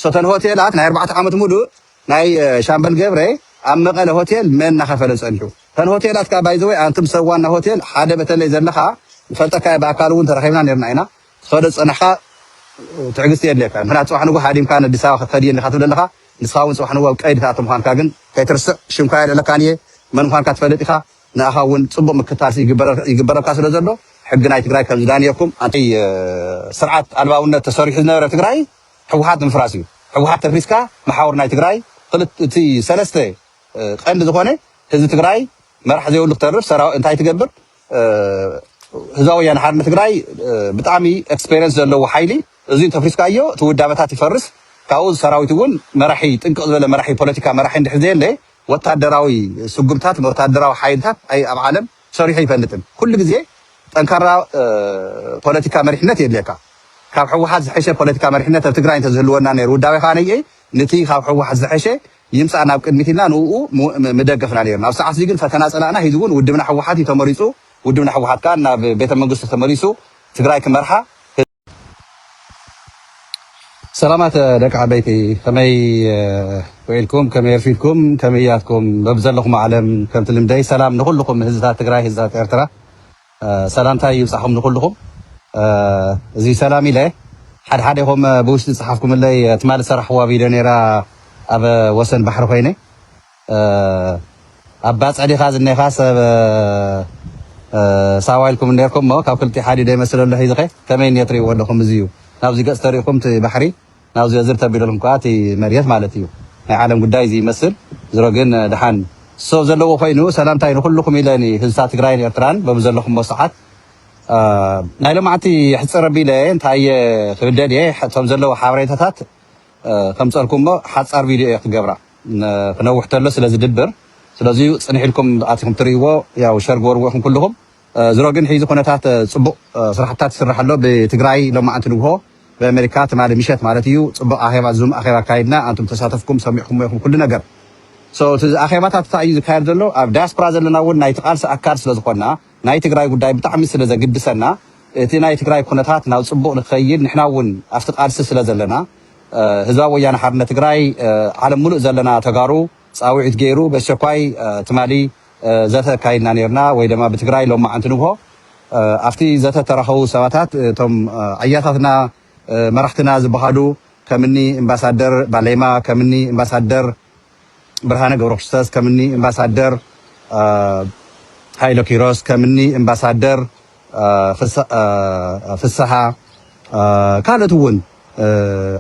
ሰተን ሆቴላት ናይ ኣርባዕተ ዓመት ሙሉእ ናይ ሻምበል ገብረ ኣብ መቐለ ሆቴል መን እናኸፈለ ፀኒሑ ተን ሆቴላት ከዓ ባይዘወይ ኣንቱም ሰብ ዋና ሆቴል ሓደ በተለይ ዘለኻ ፈልጠካ ብኣካል እውን ተራኺብና ነርና ኢና ትኸዶ ፀናሕካ ትዕግስቲ የድልየካ ምክንያቱ ፅባሕ ንጉ ሃዲምካ ኣዲስ ኣበባ ክትኸድ እየኒ ትብል ኣለኻ ንስኻ እውን ፅባሕ ንጉ ኣብ ቀይዲ ትኣቱ ምዃንካ ግን ከይትርስዕ ሽምካ የልዕለካን እየ መን ምዃንካ ትፈልጥ ኢኻ ንኣኻ እውን ፅቡቕ ምክታል ይግበረልካ ስለ ዘሎ ሕጊ ናይ ትግራይ ከም ዝዳንየኩም ኣንተይ ስርዓት ኣልባውነት ተሰሪሑ ዝነበረ ትግራይ ሕውሓት ምፍራስ እዩ ሕውሓት ተፍሪስካ መሓውር ናይ ትግራይ ክልት እቲ ሰለስተ ቀንዲ ዝኾነ ህዝቢ ትግራይ መራሕ ዘይብሉ ክተርፍ ሰራ እንታይ ትገብር ህዝባዊ ወያነ ሓርነት ትግራይ ብጣዕሚ ኤክስፔሪንስ ዘለዎ ሓይሊ እዙይ ተፍሪስካዮ እቲ ውዳበታት ይፈርስ ካብኡ ሰራዊት እውን መራሒ ጥንቅቕ ዝበለ መራሒ ፖለቲካ መራሒ እንድሕር ዘየለ ወታደራዊ ስጉምታት ወታደራዊ ሓይልታት ኣብ ዓለም ሰሪሑ ኣይፈልጥን ኩሉ ግዜ ጠንካራ ፖለቲካ መሪሕነት የድልየካ ካብ ሕወሓት ዝሐሸ ፖለቲካ መሪሕነት ኣብ ትግራይ እንተዝህልወና ነይሩ ውዳቤ ከዓ ነይኤ ንቲ ካብ ሕወሓት ዝሐሸ ይምፃእ ናብ ቅድሚት ኢልና ንኡ ምደገፍና ነይርና ኣብ ሰዓት እዚ ግን ፈተና ፀላእና ሂዚ እውን ውድብና ሕወሓት እዩ ተመሪፁ ውድብና ሕወሓት ከዓ ናብ ቤተመንግስቱ ተመሊሱ ትግራይ ክመርሓ ሰላማት ደቂ ዓበይቲ ከመይ ውዒልኩም ከመይ ኣርፊድኩም ከመይ እያትኩም በብዘለኹም ዓለም ከምቲ ልምደይ ሰላም ንኹልኹም ህዝብታት ትግራይ ህዝብታት ኤርትራ ሰላምታይ ይብፃኹም ንኹልኹም እዚ ሰላም ኢለ ሓደ ሓደ ኹም ብውሽጢ ፀሓፍኩምለይ ትማሊ ሰራሕዋ ቪድዮ ነይራ ኣብ ወሰን ባሕሪ ኮይነ ኣብ ባጽዕ ዲኻ ዝኔኻ ሰብ ሳዋ ኢልኩም ኔርኩም እሞ ካብ ክልቲኡ ሓዲኡ ዶ ይመስል ኣሎ ሒዝኸ ከመይ እኔ ትሪእዎ ኣለኹም እዚ እዩ ናብዚ ገጽ ተሪእኹም እቲ ባሕሪ ናብዚ ዝር ተቢልኩም ከኣ እቲ መሬት ማለት እዩ ናይ ዓለም ጉዳይ እዚ ይመስል ዝሮ ግን ድሓን ሰው ዘለዎ ኮይኑ ሰላምታይ ንኩልኩም ኢለ ንህዝታ ትግራይን ኤርትራን በብዘለኹሞ ሰዓት ናይ ሎማዕቲ ሕፅር ቢለ እንታይ ክብደል እየ እቶም ዘለዉ ሓበሬታታት ከምፀልኩሞ ሓፃር ቪድዮ እየ ክገብራ ክነውሕ ተሎ ስለ ዝድብር ስለዚ ዩ ጽንሕ ኢልኩም ኣቲኩም ትርእይዎ ያው ሸር ግበርዎ ኢኩም ኩሉኩም ዝሮ ግን ሒዚ ኩነታት ጽቡቅ ስራሕታት ይስራሕ ኣሎ ብትግራይ ሎማዓንቲ ንግሆ ብኣሜሪካ ትማሊ ምሸት ማለት እዩ ጽቡቅ ኣኼባ ዙም ኣኼባ ኣካይድና ኣንቱም ተሳተፍኩም ሰሚዕኩሞ ኢኩም ኩሉ ነገር so እቲ ኣኼባታት እንታይ እዩ ዝካየድ ዘሎ ኣብ ዳያስፖራ ዘለና እውን ናይቲ ቃልሲ ኣካል ስለ ዝኮና ናይ ትግራይ ጉዳይ ብጣዕሚ ስለ ዘግድሰና እቲ ናይ ትግራይ ኩነታት ናብ ፅቡቅ ንክኸይድ ንሕና እውን ኣብቲ ቃልሲ ስለ ዘለና ህዝባዊ ወያነ ሓርነት ትግራይ ዓለም ሙሉእ ዘለና ተጋሩ ፃውዒት ገይሩ በስቸኳይ ትማሊ ዘተ ኣካይድና ነይርና ወይ ደማ ብትግራይ ሎማዓንቲ ንግሆ ኣብቲ ዘተ ተረኸቡ ሰባታት እቶም ኣያታትና መራሕትና ዝበሃሉ ከምኒ እምባሳደር ባሌማ ከምኒ እምባሳደር ብርሃነ ገብረክርስቶስ ከም እኒ እምባሳደር ሃይለ ኪሮስ ከም እኒ እምባሳደር ፍስሃ ካልኦት እውን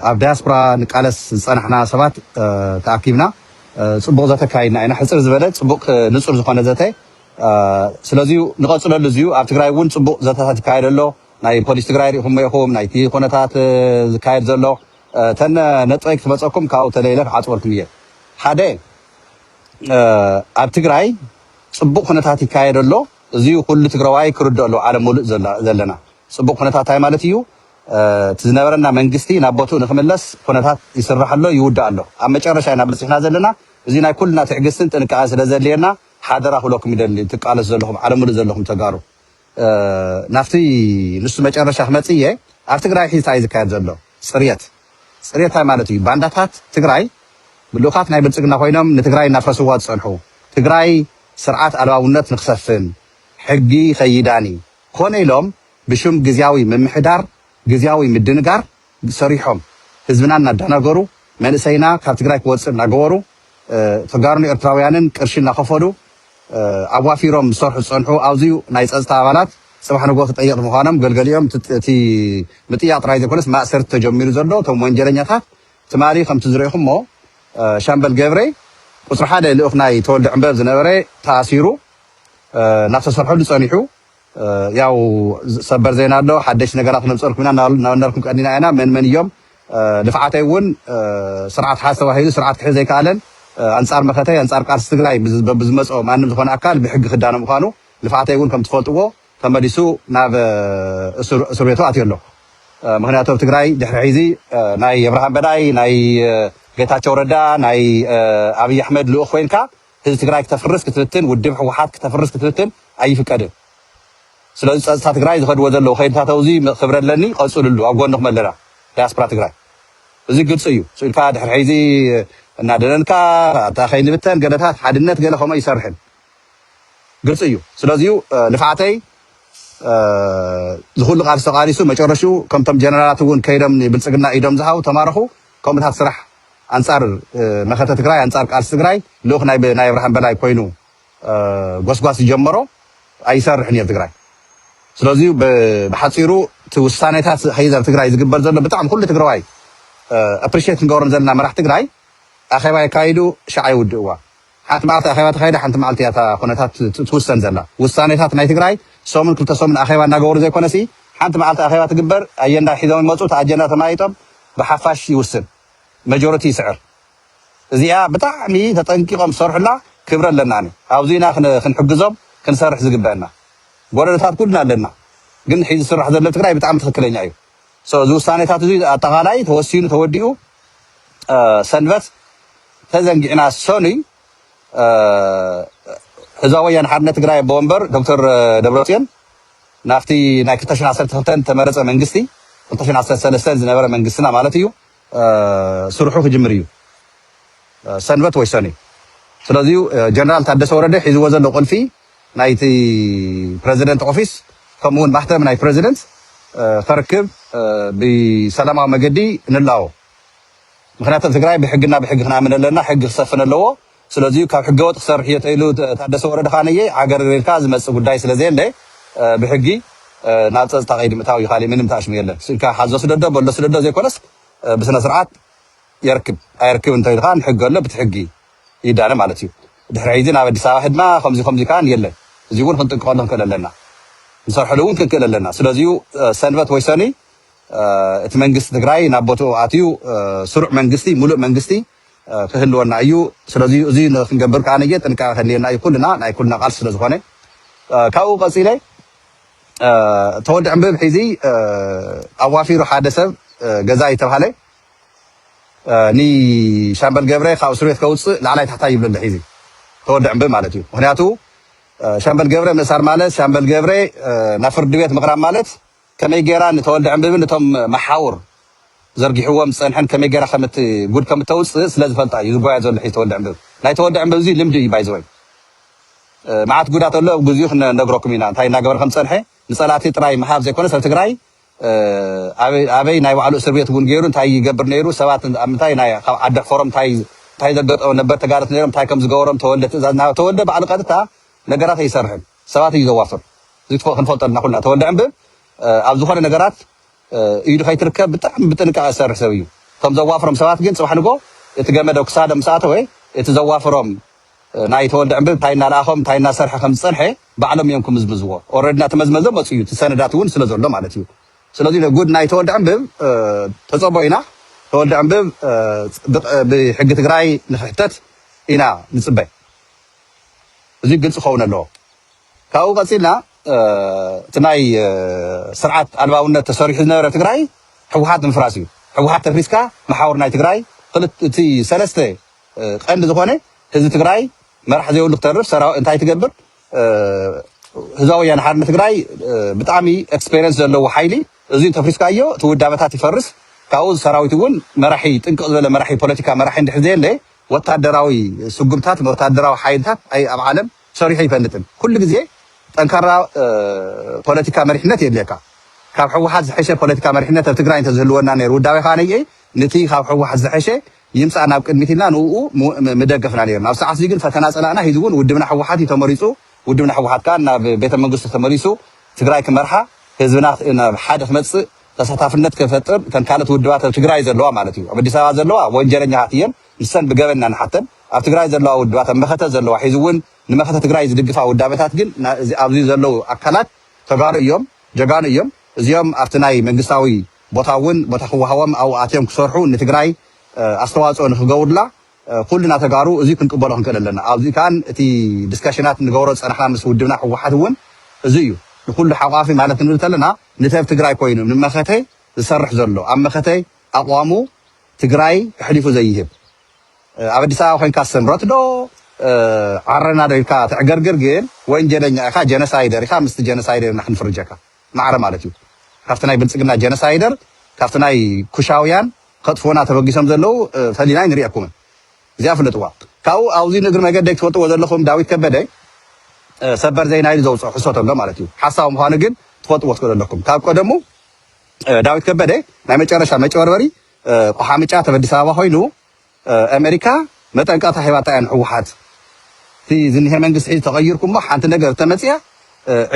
ኣብ ዳያስፖራ ንቃለስ ዝፀናሕና ሰባት ተኣኪብና ፅቡቕ ዘተ ካይድና ኢና ሕፅር ዝበለ ፅቡቕ ንፁር ዝኾነ ዘተ ስለዚ ንቐፅለሉ እዚዩ ኣብ ትግራይ እውን ፅቡቅ ዘተታት ይካየድ ኣሎ ናይ ፖሊስ ትግራይ ሪኢኹሞ ኢኹም ናይቲ ኩነታት ዝካየድ ዘሎ እተን ነጥበይ ክትበፀኩም ካብኡ ተለይለ ክዓፅወልኩም እየ ሓደ ኣብ ትግራይ ፅቡቅ ኩነታት ይካየድ ኣሎ እዚ ኩሉ ትግራዋይ ክርድኦ ኣለዎ ዓለም ሙሉእ ዘለና ፅቡቅ ኩነታት እንታይ ማለት እዩ እቲ ዝነበረና መንግስቲ ናብ ቦትኡ ንክምለስ ኩነታት ይስራሕ ኣሎ ይውዳእ ኣሎ ኣብ መጨረሻ ኢና በፂሕና ዘለና እዚ ናይ ኩልና ትዕግስትን ጥንቃቐን ስለዘድልየና ሓደራ ክብለኩም ይደሊ ትቃለሱ ዘለኹም ዓለም ሙሉእ ዘለኹም ተጋሩ ናብቲ ንሱ መጨረሻ ክመፅእ እየ ኣብ ትግራይ ሕዚ ታይ እዩ ዝካየድ ዘሎ ፅርየት ፅርየት ታይ ማለት እዩ ባንዳታት ትግራይ ልኡኻት ናይ ብልፅግና ኮይኖም ንትግራይ እናፍረስዋ ዝፀንሑ ትግራይ ስርዓት ኣልባውነት ንክሰፍን ሕጊ ከይዳኒ ኮነ ኢሎም ብሽም ግዝያዊ ምምሕዳር ግዝያዊ ምድንጋር ሰሪሖም ህዝብና እናዳናገሩ መንእሰይና ካብ ትግራይ ክወፅእ እናገበሩ ተጋሩን ኤርትራውያንን ቅርሺ እናኸፈሉ ኣዋፊሮም ዝሰርሑ ዝፀንሑ ኣውዝዩ ናይ ፀፅታ ኣባላት ፅባሕ ንግሆ ተጠየቕቲ ምዃኖም ገልገሊኦም እቲ ምጥያቕ ጥራይ ዘይኮነስ ማእሰርቲ ተጀሚሩ ዘሎ እቶም ወንጀለኛታት ትማሊ ከምቲ ዝረኢኹሞ ሻምበል ገብሬ ቁፅሪ ሓደ ልኡኽ ናይ ተወልደ ዕምበብ ዝነበረ ተኣሲሩ ናብ ተሰርሐሉ ፀኒሑ ያው ሰበር ዜና ኣሎ ሓደሽቲ ነገራት ክነምፀልኩም ኢና እናበልናልኩም ቀኒና ኢና መን መን እዮም ልፍዓተይ እውን ስርዓት ሓዝ ተባሂሉ ስርዓት ክሕዝ ዘይከኣለን ኣንፃር መኸተይ ኣንፃር ቃልሲ ትግራይ ብዝመፆ ማንም ዝኾነ ኣካል ብሕጊ ክዳነ ምዃኑ ልፍዓተይ እውን ከም ትፈልጥዎ ተመሊሱ ናብ እስር ቤቱ ኣትዮ ኣሎ ምክንያቱ ኣብ ትግራይ ድሕሪ ሕዚ ናይ የብርሃን በላይ ናይ ጌታቸው ረዳ ናይ ኣብይ ኣሕመድ ልኡኽ ኮይንካ ህዝቢ ትግራይ ክተፍርስ ክትፍትን ውድብ ህወሓት ክተፍርስ ክትፍትን ኣይፍቀድን ስለዚ ፀፅታ ትግራይ ዝኸድዎ ዘለዉ ከይድታተው እዚ ክብሪ ኣለኒ ቀፅልሉ ኣብ ጎንኹም ኣለና ዳያስፖራ ትግራይ እዚ ግልፂ እዩ ፅኢልካ ድሕሪ ሕዚ እናደለልካ ኣታ ከይንብተን ገለታት ሓድነት ገለ ከምኡ ኣይሰርሕን ግልፂ እዩ ስለዚ እዩ ልፍዓተይ ዝኹሉ ቃልሲ ተቃሊሱ መጨረሽኡ ከምቶም ጀነራላት እውን ከይዶም ብልፅግና ኢዶም ዝሃቡ ተማረኹ ከምኡታት ስራሕ ኣንፃር መኸተ ትግራይ ኣንፃር ቃልሲ ትግራይ ልኡኽ ናይ ናይ ኣብርሃም በላይ ኮይኑ ጎስጓስ ዝጀመሮ ኣይሰርሕን እየ ትግራይ ስለዚ ብሓፂሩ እቲ ውሳኔታት ሀይዘር ትግራይ ዝግበር ዘሎ ብጣዕሚ ኩሉ ትግራዋይ ኣፕሪሽት ክንገብሮም ዘለና መራሕ ትግራይ ኣኼባ የካይዱ ሸዓ ይውድእዋ ሓንቲ መዓልቲ ኣኼባ ተኻይዳ ሓንቲ መዓልቲ እያ እታ ኩነታት ትውሰን ዘላ። ውሳኔታት ናይ ትግራይ ሰሙን ክልተ ሰሙን ኣኼባ እናገበሩ ዘይኮነሲ ሓንቲ መዓልቲ ኣኼባ ትግበር ኣጀንዳ ሒዞም ይመፁ እቲ ኣጀንዳ ተመያይጦም ብሓፋሽ ይውስን መጆረቲ ይስዕር። እዚኣ ብጣዕሚ ተጠንቂቆም ዝሰርሑላ ክብሪ ኣለናኒ ኣብዚ ኢና ክንሕግዞም ክንሰርሕ ዝግበእና ጎደሎታት ኩልና ኣለና ግን ሕዚ ዝስራሕ ዘሎ ትግራይ ብጣዕሚ ትኽክለኛ እዩ። So እዚ ውሳኔታት እዚ ኣጠቓላይ ተወሲኑ ተወዲኡ ሰንበት ተዘንጊዕና ሰኑይ ህዝባዊ ወያነ ሓርነት ትግራይ ኣቦ ወንበር ዶክተር ደብረጽዮን ናብቲ ናይ 2012 ዝተመረጸ መንግስቲ 2013 ዝነበረ መንግስትና ማለት እዩ ስርሑ ክጅምር እዩ ሰንበት ወይ ሰኑይ ስለዚ ጀነራል ታደሰ ወረደ ሒዝዎ ዘሎ ቁልፊ ናይቲ ፕረዚደንት ኦፊስ ከምኡ ውን ማህተም ናይ ፕረዚደንት ኸርክብ ብሰላማዊ መገዲ ንላቦ ምክንያቱ ኣብ ትግራይ ብሕግና ብሕጊ ክናምን ኣለና ሕጊ ክሰፍን ኣለዎ ስለዚዩ ካብ ሕገወጥ ክሰርሕ እዮ ተኢሉ ታደሰ ወረደ ከዓ ነየ ዓገርግር ኢልካ ዝመፅእ ጉዳይ ስለዘየለ ብሕጊ ናብ ፀፅታ ቀይዲ ምእታው እዩ ካሊእ ምንም ተኣሽሙ የለን ኢልካ ሓዞ ስደዶ በሎ ስደዶ ዘይኮነስ ብስነስርዓት የርክብ ኣየርክብ እንተ ኢልካ ንሕጊ ኣሎ ብቲ ሕጊ ይዳነ ማለት እዩ ድሕሪ ሕይዚ ናብ ኣዲስ ኣበባ ሐድና ከምዚ ከምዚ ከኣ የለን እዚ እውን ክንጥንቅቀሉ ክንክእል ኣለና ንሰርሐሉ እውን ክንክእል ኣለና ስለዚ እዩ ሰንበት ወይ ሰኑይ እቲ መንግስቲ ትግራይ ናብ ቦትኡ ኣትዩ ስሩዕ መንግስቲ ሙሉእ መንግስቲ ክህልወና እዩ ስለዚ እዚ ክንገብር ከኣ ነየ ጥንቃቀ ከድልየና እዩ ኩልና ናይ ኩልና ቃልሲ ስለ ዝኾነ ካብኡ ቀፂለ ተወዲ ዕንብብ ሒዚ ኣዋፊሩ ሓደ ሰብ ገዛ ይተብሃለ ንሻምበል ገብረ ካብ እስርቤት ከውፅእ ላዕላይ ታሕታይ ይብሎ ኣሎ ሒዚ ተወድ ዕንብብ ማለት እዩ ምክንያቱ ሻምበል ገብረ ምእሳር ማለት ሻምበል ገብረ ናብ ፍርዲ ቤት ምቅራብ ማለት ከመይ ጌራ ንተወልደ ዕንብብን እቶም መሓውር ዘርጊሕዎም ዝፀንሐን ከመይ ጌራ ከምት ጉድ ከምተውፅእ ስለ ዝፈልጣ እዩ ዝጓየ ዘሎ ሒዚ ተወልደ ዕንብብ ናይ ተወልደ ዕንብብ እዚ ልምዲ እዩ ባይዘወይ መዓት ጉዳት ኣሎ ኣብ ግዚኡ ክንነግረኩም ኢና እንታይ እናገበረ ከም ዝፀንሐ ንፀላእቲ ጥራይ ምሃብ ዘይኮነስ ኣብ ትግራይ ኣበይ ናይ ባዕሉ እስር ቤት እውን ገይሩ እንታይ ይገብር ነይሩ ሰባት ኣብ ምንታይ ናይ ካብ ዓዲ ሕፈሮም እንታይ እንታይ ዘገጠሙ ነበር ተጋደልቲ ነይሮም እንታይ ከም ዝገበሮም ተወልደ ትእዛዝ እናሃበ ተወልደ ባዕሉ ቀጥታ ነገራት ኣይሰርሕን ሰባት እዩ ዘዋፍር እዚ ትፈ ክንፈልጦ ኣለና ኩልና ተወልደ ዕንብብ ኣብ ዝኾነ ነገራት ኢዱ ከይትርከብ ብጣዕሚ ብጥንቃቐ ዝሰርሕ ሰብ እዩ ከም ዘዋፍሮም ሰባት ግን ጽባሕ ንጎ እቲ ገመደ ክሳዶም ምስ ኣተወ እቲ ዘዋፍሮም ናይ ተወልደ ዕንብብ እንታይ እናለኣኾም እንታይ እናሰርሐ ከም ዝጸንሐ ባዕሎም እዮም ክምዝምዝዎ ኦረዲ ናተመዝመዘ መፁ እዩ እቲ ሰነዳት እውን ስለ ዘሎ ማለት እዩ ስለዚ ጉድ ናይ ተወልደ ዕንብብ ተፀቦ ኢና ተወልደ ዕንብብ ብሕጊ ትግራይ ንክሕተት ኢና ንፅበ እዚ ግልፂ ክኸውን ኣለዎ ካብኡ ቀፂልና እቲ ናይ ስርዓት ኣልባውነት ተሰሪሑ ዝነበረ ትግራይ ሕወሓት ንምፍራስ እዩ ሕወሓት ተፍሪስካ መሓውር ናይ ትግራይ እቲ ሰለስተ ቀንዲ ዝኾነ ህዝቢ ትግራይ መራሕ ዘይብሉ ክተርፍ ሰራዊ እንታይ ትገብር ህዝባዊ ወያነ ሓርነት ትግራይ ብጣዕሚ ኤክስፔሪንስ ዘለዎ ሓይሊ እዚ ተፍሪስካዮ እቲ ውዳበታት ይፈርስ ካብኡ ሰራዊት እውን መራሒ ጥንቅቕ ዝበለ መራሒ ፖለቲካ መራሒ እንድሕር ዘየለ ወታደራዊ ስጉምታት ወታደራዊ ሓይልታት ኣይ ኣብ ዓለም ሰሪሑ ይፈልጥን ኩሉ ግዜ ጠንካራ ፖለቲካ መሪሕነት የድልየካ ካብ ሕወሓት ዝሐሸ ፖለቲካ መሪሕነት ኣብ ትግራይ እንተዝህልወና ነይሩ ውዳቤ ከዓ ነይኤ ንቲ ካብ ሕወሓት ዝሐሸ ይምጻእ ናብ ቅድሚት ኢልና ንኡ ምደገፍና ነይርና። ኣብዚ ሰዓት እዚ ግን ፈተና ጸላእና ሂዚ እውን ውድብና ህወሓት እዩ ተመሪጹ። ውድብና ህወሓት ከኣ ናብ ቤተ መንግስቱ ተመሊሱ ትግራይ ክመርሓ ህዝብና ናብ ሓደ ክመጽእ ተሳታፍነት ክፈጥር እተን ካልኦት ውድባት ኣብ ትግራይ ዘለዋ ማለት እዩ ኣብ ኣዲስ ኣበባ ዘለዋ ወንጀለኛታት እየን ንሰን ብገበን ኢና ንሓተን ኣብ ትግራይ ዘለዋ ውድባት ኣብ መኸተ ዘለዋ ሒዚ እውን ንመኸተ ትግራይ ዝድግፋ ውዳበታት ግን ኣብዚ ዘለዉ ኣካላት ተጋሩ እዮም ጀጋኑ እዮም እዚኦም ኣብቲ ናይ መንግስታዊ ቦታ እውን ቦታ ክወሃቦም ኣብኡ ኣትዮም ክሰርሑ ንትግራይ ኣስተዋፅኦ ንክገብሩላ ኩልና ተጋሩ እዙይ ክንቅበሎ ክንክእል ኣለና። ኣብዙይ ከዓ እቲ ድስከሽናት ንገብሮ ዝፀናሕና ምስ ውድብና ህወሓት እውን እዙይ እዩ። ንኩሉ ሓቋፊ ማለት ክንብል እንተለና ንተብ ትግራይ ኮይኑ ንመኸተ ዝሰርሕ ዘሎ ኣብ መኸተ ኣቕዋሙ ትግራይ ኣሕሊፉ ዘይህብ ኣብ ኣዲስ ኣበባ ኮይንካ ስምረት ዶ ዓረና ዶ ኢልካ ተዕገርግር ግን ወንጀለኛ ኢኻ ጀነሳይደር ኢኻ ምስቲ ጀነሳይደር ኢና ክንፍርጀካ። ማዕረ ማለት እዩ ካብቲ ናይ ብልጽግና ጀነሳይደር ካብቲ ናይ ኩሻውያን ከጥፍኡና ተበጊሶም ዘለዉ ፈሊና ኣይንሪኤኩምን እዚኣ ፍለጥዋ ካብኡ ኣብዚ ንእግሪ መገደይ ትፈልጥዎ ዘለኹም ዳዊት ከበደ ሰበር ዜና ኢሉ ዘውጽኦ ሕሶት ኣሎ ማለት እዩ ሓሳዊ ምዃኑ ግን ትፈልጥዎ ትኽእሉ ኣለኩም ካብ ቀደሙ ዳዊት ከበደ ናይ መጨረሻ መጭበርበሪ ቆሓምጫ ተብ ኣዲስ ኣበባ ኮይኑ ኣመሪካ መጠንቀቅታ ሂባታ እያ ንሕወሓት እቲ ዝኒሀ መንግስቲ ሕዚ ተቀይርኩም እሞ ሓንቲ ነገር እተመፅኣ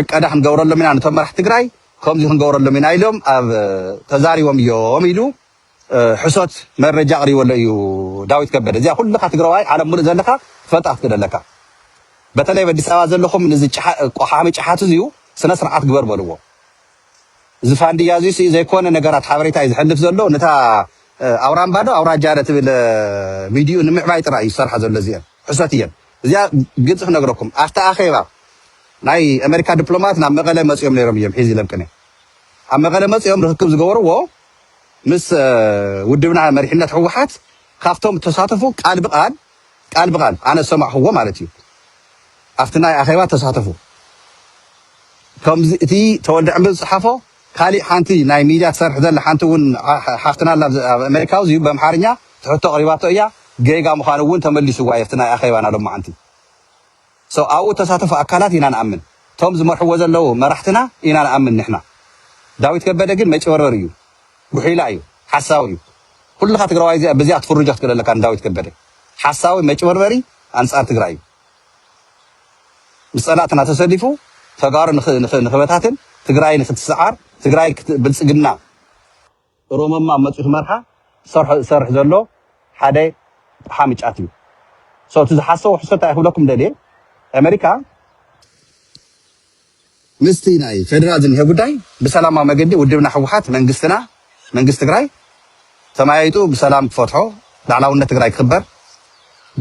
ዕቀዳ ክንገብረሎም ኢና ነቶም መራሕቲ ትግራይ ከምዙይ ክንገብረሎም ኢና ኢሎም ኣብ ተዛሪቦም እዮም ኢሉ ሕሶት መረጃ ኣቅሪበሎ እዩ ዳዊት ከበደ እዚኣ ኩልካ ትግራዋይ ዓለም ሙሉእ ዘለካ ትፈልጣ ክትክእል ኣለካ በተለይ ኣብ ኣዲስ ኣበባ ዘለኹም ንዚ ቆሓሚ ጭሓት እዚዩ ስነ ስርዓት ግበር በልዎ እዚ ፋንድያ እዙይ ስኢ ዘይኮነ ነገራት ሓበሬታ እዩ ዝሕልፍ ዘሎ ነታ ኣውራምባ ዶ ኣውራጃ ዶ ትብል ሚድይኡ ንምዕባይ ጥራይ እዩ ዝሰርሓ ዘሎ እዚኤን ሕሶት እየን እዚኣ ግልፂ ክነግረኩም ኣብቲ ኣኼባ ናይ ኣሜሪካ ዲፕሎማት ናብ መቐለ መፅኦም ነይሮም እዮም ሒዚ ኢሎም ቅኔ ኣብ መቐለ መፅኦም ርክክብ ዝገበርዎ ምስ ውድብና መሪሕነት ህወሓት ካብቶም ተሳተፉ ቃል ብቃል ቃል ብቃል ኣነ ዝሰማዕክዎ ማለት እዩ ኣብቲ ናይ ኣኼባ ተሳተፉ ከምዚ እቲ ተወልደ ዕምበ ዝጸሓፎ ካሊእ ሓንቲ ናይ ሚድያ ትሰርሕ ዘላ ሓንቲ እውን ሓፍትና ኣላ ኣብ ኣሜሪካ እዚዩ በምሓርኛ ትሕቶ ኣቕሪባቶ እያ ገይጋ ምዃኑ እውን ተመሊስዋ እዩ ኣብቲ ናይ ኣኼባና ሎማዓንቲ so ኣብኡ እተሳተፉ ኣካላት ኢና ንኣምን እቶም ዝመርሕዎ ዘለዉ መራሕትና ኢና ንኣምን ንሕና ዳዊት ከበደ ግን መጭበርበሪ እዩ ጉሒላ እዩ ሓሳዊ እዩ ኩልኻ ትግራዋይ እዚኣ ብዚኣ ክትፍርጆ ክትክእል ኣለካ ንዳዊት ከበደ ሓሳዊ መጭበርበሪ ኣንጻር ትግራይ እዩ ምስ ጸላእትና ተሰሊፉ ተጋሩ ንኽበታትን ትግራይ ንኽትስዓር ትግራይ ብልጽግና ሮመማ መፅዩ ክመርሓ ዝሰርሖ ዝሰርሕ ዘሎ ሓደ ጠሓሚ ጫት እዩ so እቲ ዝሓሰቦ ሕሶት እንታይ ክብለኩም ደልየ ኣመሪካ ምስቲ ናይ ፌደራል ዝኒሀ ጉዳይ ብሰላማዊ መገዲ ውድብና ህወሓት መንግስትና መንግስቲ ትግራይ ተመያይጡ ብሰላም ክፈትሖ ላዕላውነት ትግራይ ክኽበር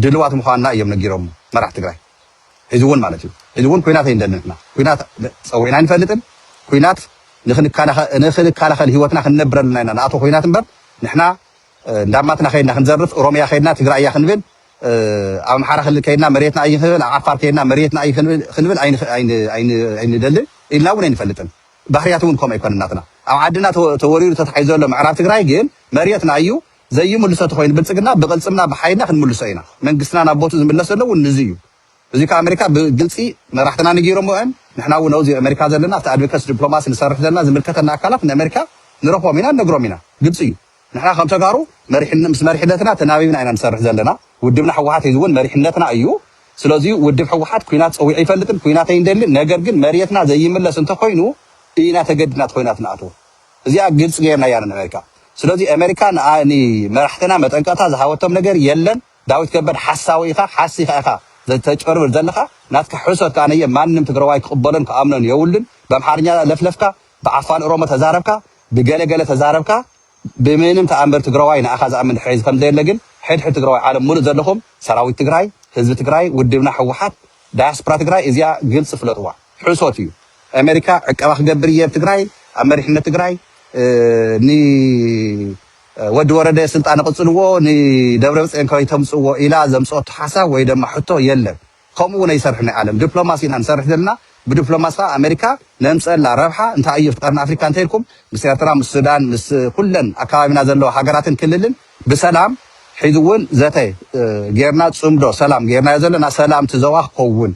ድልዋት ምዃንና እዮም ነጊሮም መራሕቲ ትግራይ ሕዚ ውን ማለት እዩ ሕዚ ውን ኩናት ኣይንደልን ንሕና ኩናት ፀዊዕና ኣይንፈልጥን ኩናት ንክንካላኸል ህይወትና ክንነብረሉ ኢና ንኣትዎ ኩናት እምበር ንሕና እንዳማትና ከይድና ክንዘርፍ ኦሮምያ ከይድና ትግራይ እያ ክንብል ኣብ ኣምሓራ ክልል ከይድና መሬትና ኣይ ክንብል ኣብ ዓፋር ከይድና መሬትና ኣይ ክንብል ኣይንደልን ኢልና እውን ኣይንፈልጥን ባህርያት እውን ከምኡ ኣይኮነን ናትና ኣብ ዓድና ተወሪሩ ተታሒዙ ዘሎ ምዕራብ ትግራይ ግን መሬትና እዩ ዘይምልሶ ተኾይኑ ብልጽግና ብቕልጽምና ብሓይልና ክንምልሶ ኢና። መንግስትና ናብ ቦትኡ ዝምለስ ዘሎ እውን ንዙይ እዩ። እዙይ ከዓ ኣመሪካ ብግልጺ መራሕትና ነጊሮምዎ እዮም። ንሕና እውን ኣውዙይ ኣመሪካ ዘለና ኣብቲ ኣድቮከሲ ድፕሎማሲ ንሰርሕ ዘለና ዝምልከተና ኣካላት ንኣመሪካ ንረኽቦም ኢና ንነግሮም ኢና። ግልጺ እዩ። ንሕና ከም ተጋሩ መሪሕነ ምስ መሪሕነትና ተናቢብና ኢና ንሰርሕ ዘለና። ውድብና ህወሓት ሕዚ እውን መሪሕነትና እዩ። ስለዙይ ውድብ ህወሓት ኩናት ፀዊዑ ኣይፈልጥን ኩናት ኣይንደልን ነገር ግን መርየትና ዘይምለስ እንተኾይኑ ኢና ተገዲድና እቲ ኾይናት ንኣትዎ። እዚኣ ግልፂ ገይርናያ ንእመሪካ ስለዚ እመሪካ ንመራሕትና መጠንቀቅታ ዝሃበቶም ነገር የለን ዳዊት ከበድ ሓሳዊ ኢካ ሓሲካ ኢካ ተጭበርብር ዘለካ ናትካ ሕሶት ካኣ ነየ ማንም ትግራዋይ ክቅበሎን ክኣምኖን የውሉን በምሓርኛ ለፍለፍካ ብዓፋን እሮሞ ተዛረብካ ብገለ ገለ ተዛረብካ ብምንም ተኣምር ትግራዋይ ንኣካ ዝኣምን ድሕሪ ከምዘየለ ግን ሕድ ሕድ ትግራዋይ ዓለም ሙሉእ ዘለኩም ሰራዊት ትግራይ ህዝቢ ትግራይ ውድብና ሕወሓት ዳያስፕራ ትግራይ እዚኣ ግልፂ ፍለጥዋ። ሕሶት እዩ ኤመሪካ ዕቀባ ክገብር እየ ኣብ ትግራይ ኣብ መሪሕነት ትግራይ ን ወዲ ወረደ ስልጣን ኣቕጽልዎ ንደብረብጽዮን ከይተምጽዎ ኢላ ዘምጽኦቶ ሓሳብ ወይ ደማ ሕቶ የለን ከምኡ እውን ኣይሰርሕ ናይ ዓለም ዲፕሎማሲ ኢና ንሰርሕ ዘለና ብዲፕሎማሲ ከዓ ኣመሪካ ነምጸላ ረብሓ እንታይ እዩ ቀርኒ ኣፍሪካ እንተይልኩም ምስ ኤርትራ ምስ ሱዳን ምስ ኩለን ኣካባቢና ዘለዋ ሃገራትን ክልልን ብሰላም ሕዚ እውን ዘተ ጌርና ጽምዶ ሰላም ጌርናዮ ዘለና ሰላም ትዘዋ ክኸውን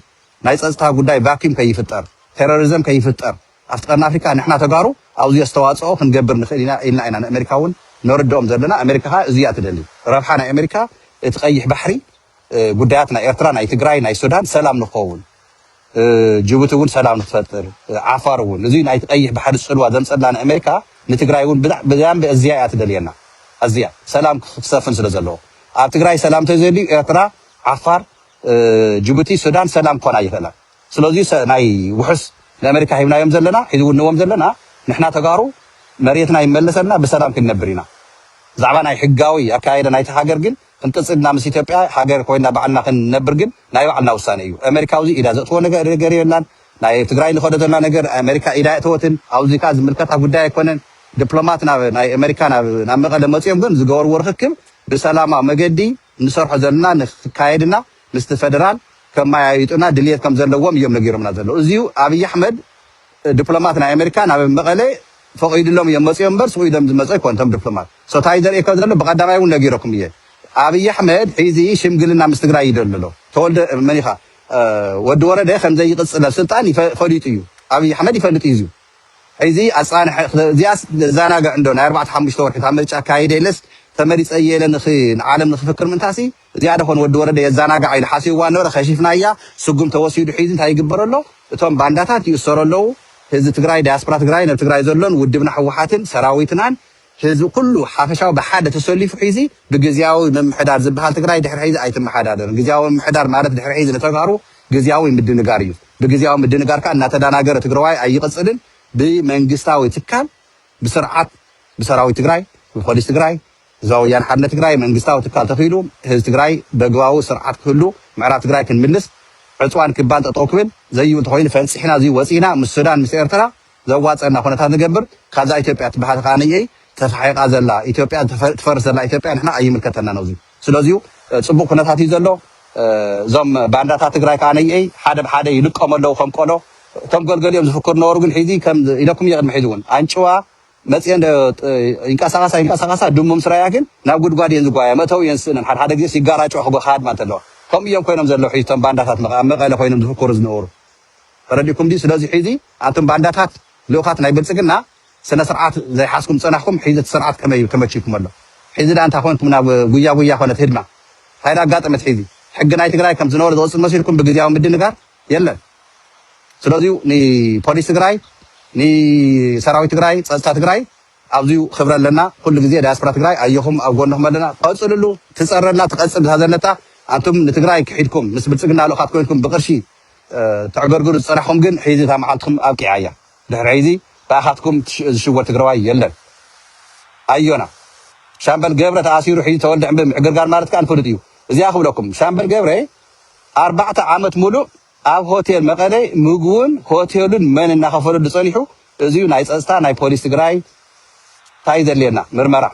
ናይ ፀፅታ ጉዳይ ቫኪም ከይፍጠር ቴረሪዘም ከይፍጠር ኣብቲ ቀርኒ ኣፍሪካ ንሕና ተጋሩ ኣውዙይ ኣስተዋፅኦ ክንገብር ንክእል ኢና ኢልና ኢና ንኣሜሪካ እውን ነርድኦም ዘለና ኣሜሪካ ከዓ እዙይ እያ ትደሊ ረብሓ ናይ ኣሜሪካ እቲ ቀይሕ ባሕሪ ጉዳያት ናይ ኤርትራ ናይ ትግራይ ናይ ሱዳን ሰላም ንክኸውን ጅቡቲ እውን ሰላም ንክፈጥር ዓፋር እውን እዙይ ናይቲ ቀይሕ ባሕሪ ፅልዋ ዘምፀላ ንኣሜሪካ ንትግራይ እውን ብዛንቢ እዚያ እያ ትደልየና ኣዚያ ሰላም ክሰፍን ስለ ዘለዎ ኣብ ትግራይ ሰላም ተዘልዩ ኤርትራ ዓፋር ጅቡቲ ሱዳን ሰላም ክኾና ኣይኽእላን ስለዙይ ሰ ናይ ውሑስ ንኣመሪካ ሂብናዮም ዘለና ሕዚ እውን ንህቦም ዘለና ንሕና ተጋሩ መሬትና ይመለሰልና ብሰላም ክንነብር ኢና ብዛዕባ ናይ ሕጋዊ ኣከያይዳ ናይቲ ሃገር ግን ክንቅፅል ኢና ምስ ኢትዮጵያ ሃገር ኮይና ባዕልና ክንነብር ግን ናይ ባዕልና ውሳነ እዩ ኣመሪካ ኣብዚ ኢዳ ዘእትዎ ነገ- ነገር የላን ናይ ኣብ ትግራይ ንኸዶ ዘለና ነገር ኣመሪካ ኢዳ የእተወትን ኣብዚ ከዓ ዝምልከታ ጉዳይ ኣይኮነን ዲፕሎማት ናብ ናይ ኣመሪካ ናብ ናብ መቐለ መፂኦም ግን ዝገበርዎ ርኽክብ ብሰላማዊ መገዲ እንሰርሖ ዘለና ንክካየድ እና ምስቲ ፈደራል ከማያይጡና ድልየት ከምዘለዎም እዮም ነጊሮምና ዘለዉ እዚዩ ኣብይ ኣሕመድ ድፕሎማት ናይ ኣመሪካ ናብ መቐለ ፈቒድሎም እዮም መፅዮም እምበር ስቁ ኢሎም ዝመፁ ኣይኮን እቶም ድፕሎማት ሶ ታይ ዘርእየካ ዘሎ ብቀዳማይ እውን ነጊረኩም እየ ኣብይ ኣሕመድ ሒዚ ሽምግልና ምስ ትግራይ ይደሊ ኣሎ ተወልደ መን ኢኻ ወዲ ወረደ ከምዘይቅፅል ኣብ ስልጣን ፈሊጡ እዩ ኣብይ ኣሕመድ ይፈልጥ እዩ እዚዩ ሕዚ ኣጻንሐ እዚኣስ ዘዛናግዕ እንዶ ናይ ኣርባዕተ ሓሙሽተ ወርሒ እታ ምርጫ ኣካይደ ኢለስ ተመሪጸ እየ ኢለ ንክ ንዓለም ንክፍክር ምንታሲ እዚኣ ዶ ኮን ወዲ ወረደ የዛናግዓ ኢሉ ሓሲብዋ ነበረ ከሺፍናያ ስጉም ተወሲዱ ሒዚ እንታይ ይግበር ኣሎ እቶም ባንዳታት ይእሰሩ ኣለዉ ህዚ ትግራይ ዳያስፕራ ትግራይ ነብ ትግራይ ዘሎን ውድብና ሕወሓትን ሰራዊትናን ህዝቢ ኩሉ ሓፈሻዊ ብሓደ ተሰሊፉ ሒዚ ብግዝያዊ ምምሕዳር ዝብሃል ትግራይ ድሕሪ ሒዚ ኣይትመሓዳደርን። ግዝያዊ ምምሕዳር ማለት ድሕሪ ሒዚ ንተጋሩ ግዝያዊ ምድንጋር እዩ። ብግዝያዊ ምድንጋር ከዓ እናተዳናገረ ትግራዋይ ኣይቕፅልን ብመንግስታዊ ትካል ብስርዓት ብሰራዊት ትግራይ ብፖሊስ ትግራይ ህዝባዊ ወያነ ሓርነት ትግራይ መንግስታዊ ትካል ተኺሉ ህዝቢ ትግራይ በግባዊ ስርዓት ክህሉ ምዕራብ ትግራይ ክንምልስ ዕፅዋን ክባን ጠጠው ክብል ዘይብል ተኾይኑ ፈንፂሕና እዙይ ወፂእና ምስ ሱዳን ምስ ኤርትራ ዘዋጸና ኩነታት ንገብር ካብዛ ኢትዮጵያ ትበሃል ከኣ ተፋሒቃ ዘላ ኢትዮጵያ ትፈርስ ዘላ ኢትዮጵያ ንሕና ኣይምልከተናን ኣዚ ስለዚዩ ጽቡቅ ኩነታት እዩ ዘሎ እዞም ባንዳታት ትግራይ ከኣ ነየይ ሓደ ብሓደ ይልቀሙ ኣለዉ ከም ቆሎ እቶም ገልገሊኦም ዝፍክሩ ነበሩ ግን ሕዚ ከም ኢለኩም እየ ቅድሚ ሕዚ እውን ኣንጭዋ መፅአን ይንቀሳቀሳ ይንቀሳቀሳ ድሙ ምስ ራያ ግን ናብ ጉድጓድ እየን ዝጓያ መእተው እየን ስእነን ሓደ ሓደ ግዜስ ይጋራጮ ክጎ ክሃድማ እንተለዋ ከምኡ እዮም ኮይኖም ዘለዉ ሕዚ እቶም ባንዳታት መቐለ ኮይኖም ዝፍክሩ ዝነበሩ ተረዲእኩም ድዩ ስለዚ ሒዚ ኣንቱም ባንዳታት ልኡኻት ናይ ብልጽግና ስነስርዓት ዘይሓዝኩም ጸናሕኩም ሒዚ እቲ ስርዓት ከመይ እዩ ተመችይኩም ኣሎ ሒዚ ድኣ እንታይ ኮንኩም ናብ ጉያ ጉያ ኮነት ህድማ እንታይ ድኣ ኣጋጠመት ሒዚ ሕጊ ናይ ትግራይ ከም ዝነበረ ዝቕጽል መሲልኩም ብግዝያዊ ምድንጋር የለን ስለዚዩ ንፖሊስ ትግራይ ንሰራዊት ትግራይ ጸጥታ ትግራይ ኣብዚዩ ክብሪ ኣለና ኩሉ ግዜ ዳያስፖራ ትግራይ ኣየኹም ኣብ ጎንኹም ኣለና ቀጽልሉ ትጸረና ትቐጽል ብታ ዘለታ ኣንቱም ንትግራይ ክሒድኩም ምስ ብልጽግና ልኡኻት ኮይንኩም ብቅርሺ ተዕገርግሩ ዝጸናሕኩም ግን ሕዚ እታ መዓልትኩም ኣብቂዓ እያ ድሕሪ ሕዚ ብኣኻትኩም ዝሽወድ ትግራዋይ የለን ኣዮና ሻምበል ገብረ ተኣሲሩ ሕዚ ተወልደ ዕንበ ምዕግርጋር ማለት ከኣ ንፍሉጥ እዩ እዚኣ ክብለኩም ሻምበል ገብረ ኣርባዕተ ዓመት ሙሉእ ኣብ ሆቴል መቐለ ምግቡን ሆቴሉን መን እናኸፈለሉ ጸኒሑ እዚዩ ናይ ጸጽታ ናይ ፖሊስ ትግራይ ታይ ዘድልየና ምርመራ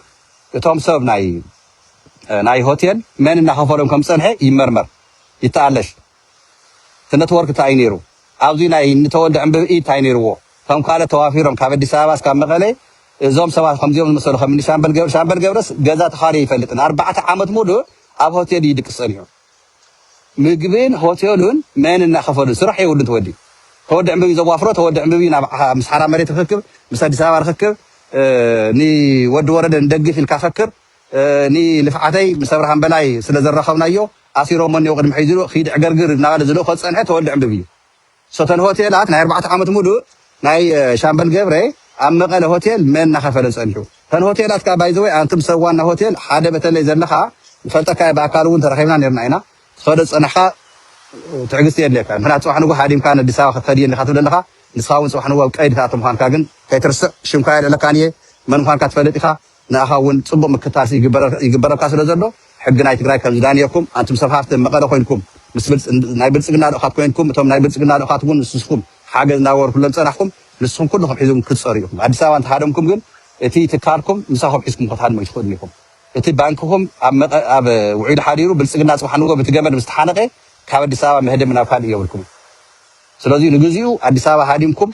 እቶም ሰብ ናይ ናይ ሆቴል መን እናኸፈሎም ከም ዝጸንሐ ይመርመር ይተኣለሽ እቲ ነትወርክ ታይ እዩ ነይሩ ኣብዙይ ናይ እኒ ተወልደ ዕንብብ ኢድ ታይ ነይርዎ ከም ካልእ ተዋፊሮም ካብ ኣዲስ ኣበባ እስካብ መቀለ እዞም ሰባት ከምዚኦም ዝመሰሉ ከም እኒ ሻምበል ገብረ ሻምበል ገብረስ ገዛ ተኻርዩ ኣይፈልጥን ኣርባዕተ ዓመት ሙሉእ ኣብ ሆቴል እዩ ድቅስ ፀኒሑ ምግብን ሆቴሉን መን እናኸፈሉ ስራሕ የብሉን ተወዲ ተወዲ ዕንብብ እዩ ዘዋፍሮ ተወዲ ዕንብብ እዩ ናብ ምስ ሓራ መሬት ርክክብ ምስ ኣዲስ ኣበባ ርክክብ ንወዲ ወረደ ንደግፍ ኢልካ ፈክር ንልፍዓተይ ምስ ኣብርሃም በላይ ስለ ዘራኸብናዮ ኣሲሮሞ እኔዉ ቅድሚ ሕጂ ኢሉ ኪድ ዕገርግር እናበለ ዝልእኮ ዝጸንሐ ተወልደ ዕንብብ እዩ ሶተል ሆቴላት ናይ ኣርባዕተ ዓመት ሙሉእ ናይ ሻምበል ገብረ ኣብ መቀለ ሆቴል መን እናከፈለ ጸኒሑ ተን ሆቴላት ከኣ ባይ ዘ ወይ ኣንቱም ሰብ ዋና ሆቴል ሓደ በተለይ ዘለካ ንፈልጠካ እየ ብኣካል እውን ተራኪብና ኔርና ኢና ትከዶ ዝጸናሕካ ትዕግስቲ የድልየካ ምክንያቱ ጽባሕ ንግሆ ሃዲምካ ነዲስ ኣበባ ክትከድ እየ እንዲካ ትብል ኣለካ ንስካ እውን ጽባሕ ንግሆ ኣብ ቀይዲ ክትኣቱ ምኳንካ ግን ከይትርስዕ ሽምካ የልዕለካን እየ መን ምኳንካ ትፈልጥ ኢካ ንኣኻ እውን ፅቡቅ ምክታስ ይግበረልካ ስለ ዘሎ ሕጊ ናይ ትግራይ ከም ዝዳንየኩም ኣንቱም ሰብ ሃፍቲ መቐለ ኮይንኩም ምስ ናይ ብልፅግና ልኡኻት ኮይንኩም እቶም ናይ ብልፅግና ልኡኻት እውን ምስ ንስኹም ሓገዝ እናገበርኩሎም ዝፀናሕኹም ንስኹም ኩልኹም ሒዝኩም ክትፀሩ ኢኹም ኣዲስ ኣበባ እንተሃደምኩም ግን እቲ ትካልኩም ምሳኹም ሒዝኩም ክትሃድሙ ኣይትኽእሉን ኢኹም እቲ ባንክኹም ኣብ ውዒሉ ሓዲሩ ብልፅግና ፅባሕ ንጎ ብቲ ገመድ ምስ ተሓነቐ ካብ ኣዲስ ኣበባ መህደሚ ናብ ካልእ የብልኩምን ስለዚ ንግዚኡ ኣዲስ ኣበባ ሃዲምኩም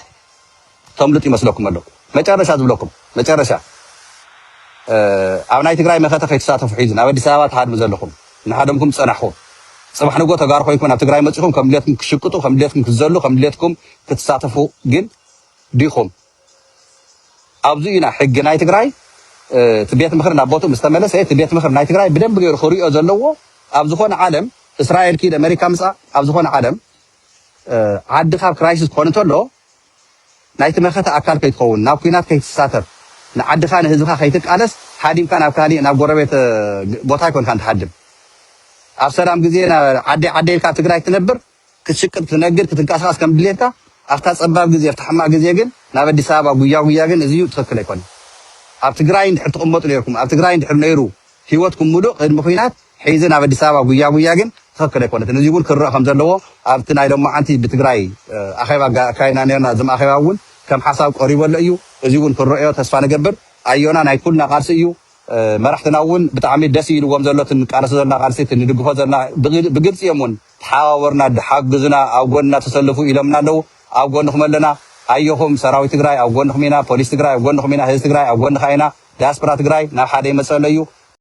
ተምልጡ ይመስለኩም ኣሎ መጨረሻ ዝብለኩም መጨረሻ ኣብ ናይ ትግራይ መኸተ ከይትሳተፉ ሒዙ ናብ ኣዲስ ኣበባ ትሃድሙ ዘለኹም እናሃደምኩም ዝፀናሕኹም ፅባሕ ንጎ ተጋሩ ኮይንኩም ናብ ትግራይ መፂኹም ከም ድሌትኩም ክትሽቅጡ ከም ድሌትኩም ክትዘሉ ከም ድሌትኩም ክትሳተፉ ግን ዲኹም ኣብዚ ኢና ሕጊ ናይ ትግራይ እቲ ቤት ምክሪ ናብ ቦትኡ ምስ ተመለሰ እቲ ቤት ምክሪ ናይ ትግራይ ብደንብ ገይሩ ክሪኦ ዘለዎ ኣብ ዝኾነ ዓለም እስራኤል ኪድ ኣሜሪካ ምፃእ ኣብ ዝኾነ ዓለም ዓዲ ካብ ክራይሲስ ክኾን እንተሎ ናይቲ መኸተ ኣካል ከይትኸውን፣ ናብ ኩናት ከይትሳተፍ፣ ንዓድኻ ንህዝብኻ ከይትቃለስ ሃዲምካ ናብ ካሊእ ናብ ጎረቤት ቦታ ኣይኮንካን ትሃድም። ኣብ ሰላም ግዜ ዓደይ ዓደይ ኢልካ ኣብ ትግራይ ትነብር፣ ክትሽቅጥ፣ ክትነግድ፣ ክትንቀሳቐስ ከም ድሌትካ፣ ኣብታ ጸባብ ግዜ፣ ኣብታ ሕማቕ ግዜ ግን ናብ ኣዲስ ኣበባ ጉያ ጉያ ግን እዚዩ ትኽክል ኣይኮነን። ኣብ ትግራይ እንድሕር ትቕመጡ ኔርኩም፣ ኣብ ትግራይ እንድሕር ነይሩ ሂወትኩም ሙሉእ ቅድሚ ኹናት ሒዚ ናብ ኣዲስ ኣበባ ጉያ ጉያ ግን ትኽክል ኣይኮነትን እዚውን ክርእ ከምዘለዎ ኣብቲ ናይ ሎማዓንቲ ብትግራይ ኣኼባ ኣካይድና ኔርና ዝም ኣኼባ እውን ከም ሓሳብ ቀሪቡ ኣሎ እዩ እዚውን ክንረእዮ ተስፋ ንገብር ኣዮና ናይ ኩልና ቃልሲ እዩ መራሕትና እውን ብጣዕሚ ደስ ኢልዎም ዘሎ እቲ ንቃለሶ ዘለና ቃልሲ እቲ ንድግፎ ዘለና ብግልፂ እዮም እውን ተሓባበሩና ሓግዙና ኣብ ጎንና ተሰልፉ ኢሎምና ኣለዉ ኣብ ጎንኹም ኣለና ኣየኹም ሰራዊት ትግራይ ኣብ ጎንኹም ኢና ፖሊስ ትግራይ ኣብ ጎንኹም ኢና ህዝቢ ትግራይ ኣብ ጎንኻ ኢና ዳያስፖራ ትግራይ ናብ ሓደ ይመፀ ኣሎ እዩ